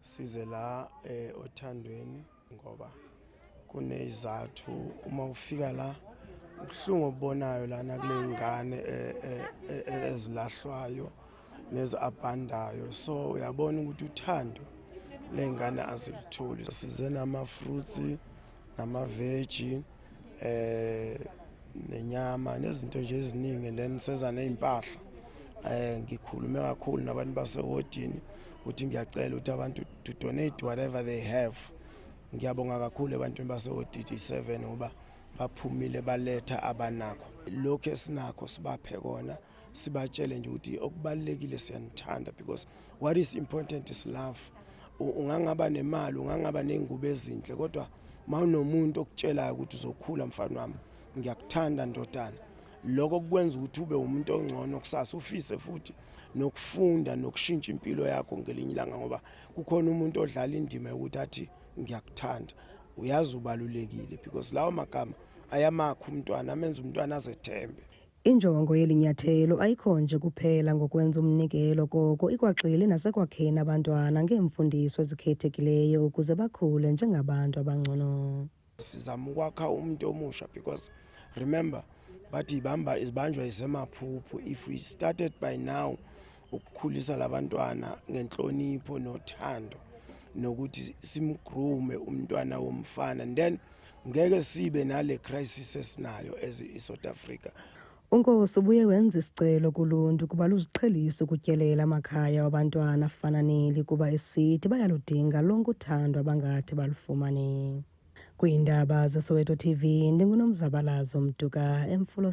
size la eh, othandweni ngoba kunezathu uma ufika la ubuhlungu obubonayo lana kule ngane eh, eh, eh, eh, ezilahlwayo neziabandayo so uyabona ukuthi uthando lengane azilitholi size nama fruits namaveji um eh, nenyama nezinto nje eziningi then seza ney'mpahla um ngikhulume kakhulu nabantu basewodini ukuthi ngiyacela ukuthi abantu to donate whatever they have ngiyabonga kakhulu ebantwini basewodidi seven ngoba baphumile baletha abanakho lokhu esinakho sibaphe kona sibatshele nje ukuthi okubalulekile siyanithanda because what is important is love ungangaba nemali ungangaba nengubo ezinhle kodwa mawunomuntu okutshelayo ukuthi uzokhula mfana wami ngiyakuthanda ndodana lokho kukwenza ukuthi ube umuntu ongcono kusasa ufise futhi nokufunda nokushintsha impilo yakho ngelinye ilanga ngoba kukhona umuntu odlala indima yokuthi athi ngiyakuthanda uyazi ubalulekile because lawo magama ayamakho umntwana amenza umntwana azethembe Injongo yeli nyathelo ayikho nje kuphela ngokwenza umnikelo koko ikwagxile nasekwakheni abantwana ngeemfundiso ezikhethekileyo ukuze bakhule njengabantu abangcono. Sizama ukwakha umuntu omusha because remember bathi ibamba ibanjwa isemaphuphu if we started by now ukukhulisa labantwana ngenhlonipho nothando nokuthi simgrume umntwana womfana then ngeke sibe nale crisis esinayo as i-south africa unkosi ubuye wenza isicelo kuluntu ukuba luziqhelise ukutyelela amakhaya wabantwana afana neli kuba esithi bayaludinga lonke uthando abangathi balufumane kwiindaba zesoweto tv ndingunomzabalazo mduka emfulo